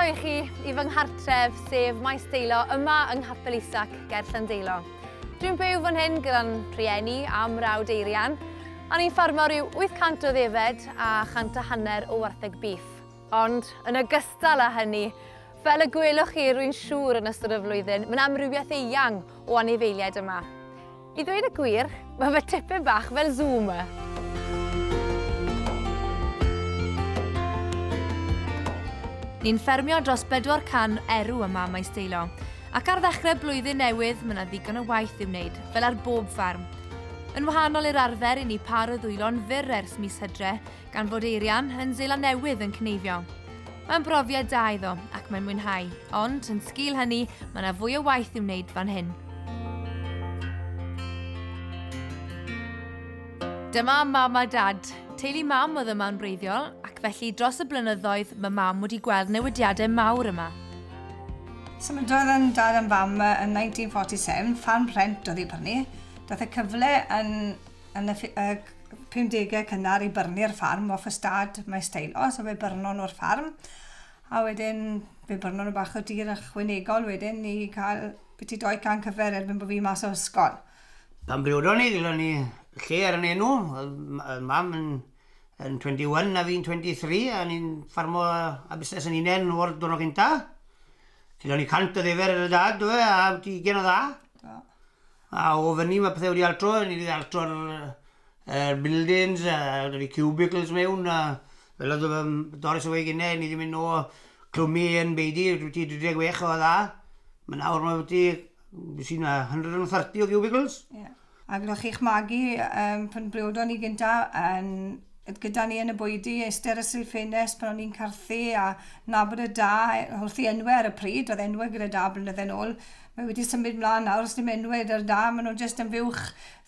i chi i fy nghartref, sef Maes Deilo, yma yng Nghapel Isac, ger Llandeilo. Dwi'n byw fan hyn gyda'n rhieni a mrawd Eirian, Ar ein fferm mawr yw 800 o ddefed a chant a hanner o wartheg bîff. Ond, yn ogystal â hynny, fel y gwelwch chi, rwy'n siŵr, yn ystod y flwyddyn, mae'n amrywiaeth eang o anifeiliaid yma. I ddweud y gwir, mae fe tipyn bach fel sŵ yma. Ni'n ffermio dros 400 erw yma ym Maes Deilo, ac ar ddechrau blwyddyn newydd mae 'na ddigon o waith i'w wneud, fel ar bob fferm. Yn wahanol i'r arfer i ni pâr o ddwylo'n fyr ers mis Hydre, gan fod Eirian yn Seland Newydd yn cneifio. Mae'n brofiad da iddo ac mae'n mwynhau, ond yn sgil hynny, mae yna fwy o waith i'w wneud fan hyn. Dyma mam a dad. Teulu mam oedd yma'n wreiddiol, ac felly dros y blynyddoedd mae mam wedi gweld newidiadau mawr yma. Symudodd yn dad am fam yn 1947, ffarm rhent oedd ei brynu. Daeth y cyfle yn yn y y 50au cynnar i byrnu'r ffarm off ystâd Maes Taylor, so fe byrnon nhw'r ffarm. A wedyn fe byrnon nhw bach o dir ychwanegol wedyn i cael byti dou can cyfer erbyn bod fi mas o ysgol. Pan briodon ni, gellon ni lle ar yn enw, oedd mam yn Yn 21 a fi'n 23 a ni'n ffarmo a busnes yn unen o'r diwrnod cynta. Cydon ni 100 o ddefer yn y dad do fe a byti ugen o dda. Do. A o fyny mae pethau wedi altro, ni wedi altro'r er, buildings a da ni cubicles mewn a fel oedd um, Doris yn weud gynnau, ni wedi mynd o clwmu yn beidi, byti 36 o dda. Mae nawr mae byti, sy'n 130 o cubicles. Yeah. A gyda chi'ch magu yym pan briodon ni gynta yn oedd gyda ni yn y bwydy iste ar y silff ffenest pan o'n i'n carthu a nabod y da yy wrth ei enwe ar y pryd oedd enwe gyda da blynydde nôl mae wedi symud mlan nawr os dim enwe 'da'r da ma' nw jyst yn fuwch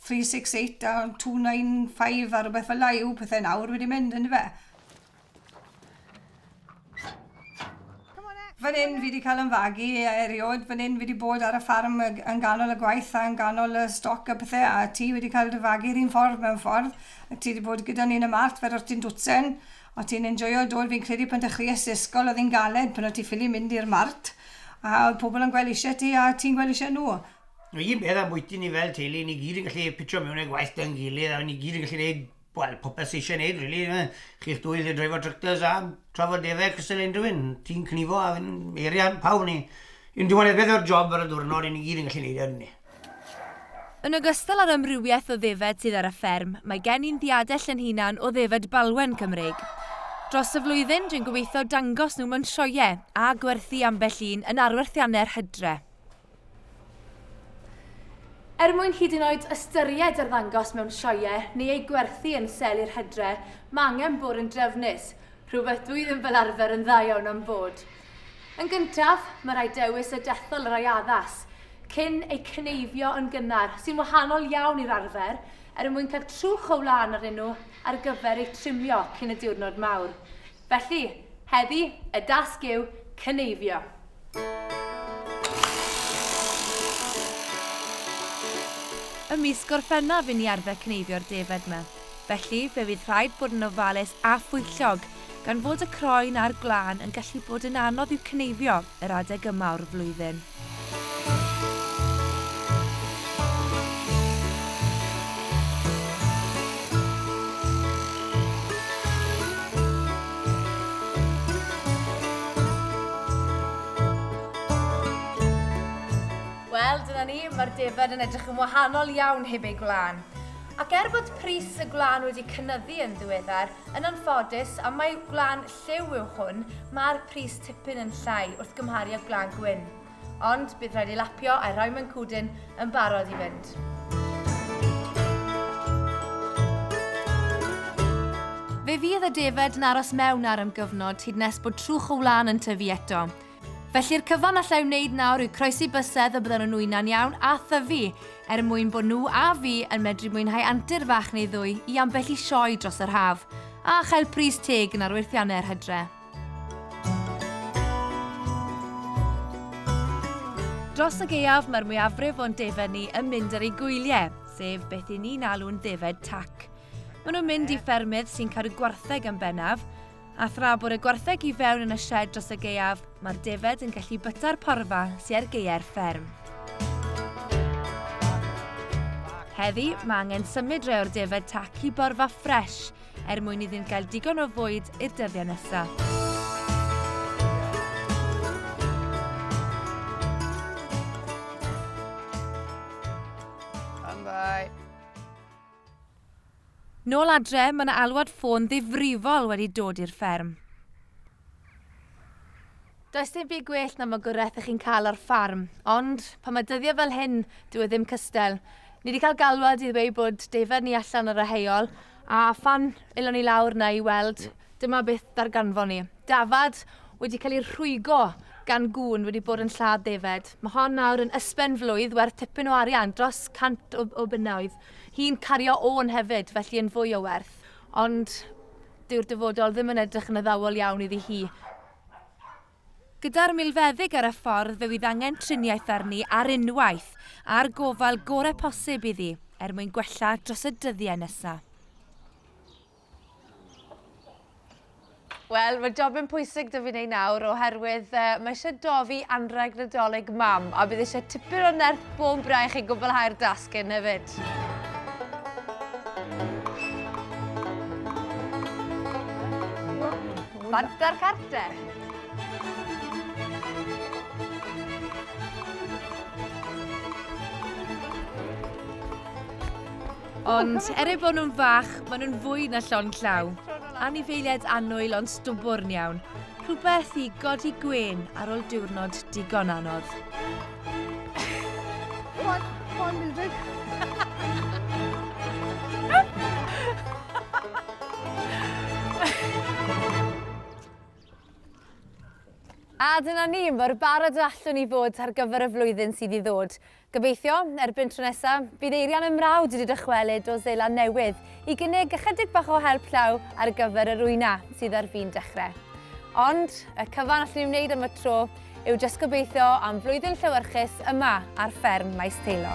three six eight a two nine five a rwbeth fela yw pethe nawr wedi mynd yndyfe? Fan hyn fi wedi cael yn fagu erioed, fan hyn fi wedi bod ar y ffarm yn ganol y gwaith a yn ganol y stoc a pethau a ti wedi cael dy fagu yr un ffordd mewn ffordd a ti wedi bod gyda ni yn y marc fel o'r ti'n dwtsen a ti'n enjoio dy ôl fi'n credu pan dechreuais ti ysgol oedd hi'n galed pan o't ti ffili mynd i'r mart a oedd pobl yn gweld eisiau ti a ti'n gweld eisiau nhw. Yr un peth ambwyty ni fel teulu, ni gyd yn gallu pitio mewn i'r gwaith 'da'n gilydd a ni gyd yn gallu gwneud Wel, popeth sy eisiau neud rili yfe? Chi'ch dwy lle dreifo tractors a trafod deddau cystal unrhyw un. Ti'n cnifo a fi'n eiria pawb ni. Yn diwedd beth yw'r job ar y ddiwrnod i ni gyd yn gallu neud e ydyn ni? Yn ogystal â'r amrywiaeth o ddefed sydd ar y fferm, mae gen i'n ddiadell yn hunan o ddefed balwen Cymreig. Dros y flwyddyn, dwi'n gobeithio dangos nhw mewn sioeau a gwerthu ambell un yn arwerthiannau'r Hydre. Er mwyn hyd yn oed ystyried arddangos mewn sioeau neu ei gwerthu yn sel i'r hedre, mae angen bod yn drefnus, rhywbeth dwi ddim fel arfer yn dda iawn am fod. Yn gyntaf, mae rhaid dewis y dethol yr ai addas, cyn eu cyneifio yn gynnar, sy'n wahanol iawn i'r arfer, er mwyn cael trwch o wlân arnyn nhw ar gyfer eu trimio cyn y diwrnod mawr. Felly, heddi, y dasg yw cyneifio. Ym mis Gorffennaf i ni arfer cneifio'r defaid 'ma. Felly, fe fydd rhaid bod yn ofalus a phwyllog, gan fod y croen a'r gwlân yn gallu bod yn anodd i'w cneifio yr adeg yma o'r flwyddyn. Wel, dyna ni, mae'r defaid yn edrych yn wahanol iawn heb eu gwlân. Ac er bod pris y gwlân wedi cynnyddu yn ddiweddar, yn anffodus, am mae gwlân Lliw yw hwn, mae'r pris tipyn yn llai wrth gymharu â gwlân gwyn. Ond bydd rhaid ei lapio a'i rhoi mewn cwdyn yn barod i fynd. Fe fydd y defaid yn aros mewn ar am gyfnod hyd nes bod trwch y wlân yn tyfu eto. Felly'r cyfan allai wneud nawr yw croesi bysedd y byddan nhw'n wyna'n iawn a thyfu, er mwyn bod nhw a fi yn medru mwynhau antur fach neu ddwy i ambell i sioe dros yr haf, a chael pris teg yn arwerthiannau yr hydre. Dros y gaeaf mae'r mwyafrif o'n defaid ni yn mynd ar eu gwyliau, sef beth i ni'n alw'n ddefaid tac. Maen nhw'n mynd i ffermydd sy'n cadw gwartheg yn bennaf, A thra bod y gwartheg i fewn yn y sied dros y gaeaf, mae'r defaid yn gallu byta'r porfa sy ar gaeau'r fferm. Heddi, mae angen symud rhai o'r defaid tac i borfa ffres er mwyn iddynt gael digon o fwyd i'r dyddiau nesaf. Nôl adre, mae yna alwad ffôn ddifrifol wedi dod i'r fferm. Does dim byd gwell na magwraeth ych chi'n cael ar ffarm, ond pan mae dyddiau fel hyn, dyw e ddim cystal. Ni 'di cael galwad i ddweud bod defaid ni allan ar y heol, a phan elon ni lawr 'na i weld, dyma beth ddarganfon ni. Dafad wedi cael ei rhwygo gan gŵn wedi bod yn lladd defaid. Mae hon nawr yn ysben flwydd werth tipyn o arian, dros 100 o bunnoedd. Hi'n cario Owen hefyd, felly yn fwy o werth. Ond dyw'r dyfodol ddim yn edrych yn addawol iawn iddi hi. Gyda'r milfeddyg ar y ffordd fe fydd angen triniaeth arni ar unwaith, a'r gofal gorau posib iddi, er mwyn gwella dros y dyddiau nesaf. Wel, mae jobyn pwysig da fi'n ei nawr oherwydd uh, mae eisiau dofi anrheg nadolig mam a bydd eisiau tipyn o nerth bôn braich i gwblhau'r dasg hyn hefyd. Banta'r carter! Ond er eu bod nhw'n fach, maen nhw'n fwy na llon llaw. Anifeiliaid annwyl ond stwbwrn iawn. Rhywbeth i godi gwen ar ôl diwrnod digon anodd. Hon, hon music. A dyna ni, mor barod y allwn ni fod ar gyfer y flwyddyn sydd i ddod. Gobeithio, erbyn tro nesa, bydd Eirian yn mrawd wedi dychwelyd o Seland Newydd i gynnig ychydig bach o help llaw ar gyfer yr wyna sydd ar fin dechre. Ond, y cyfan allwn ni wneud am y tro yw jyst gobeithio am flwyddyn llewyrchus yma ar fferm Maes Teilo.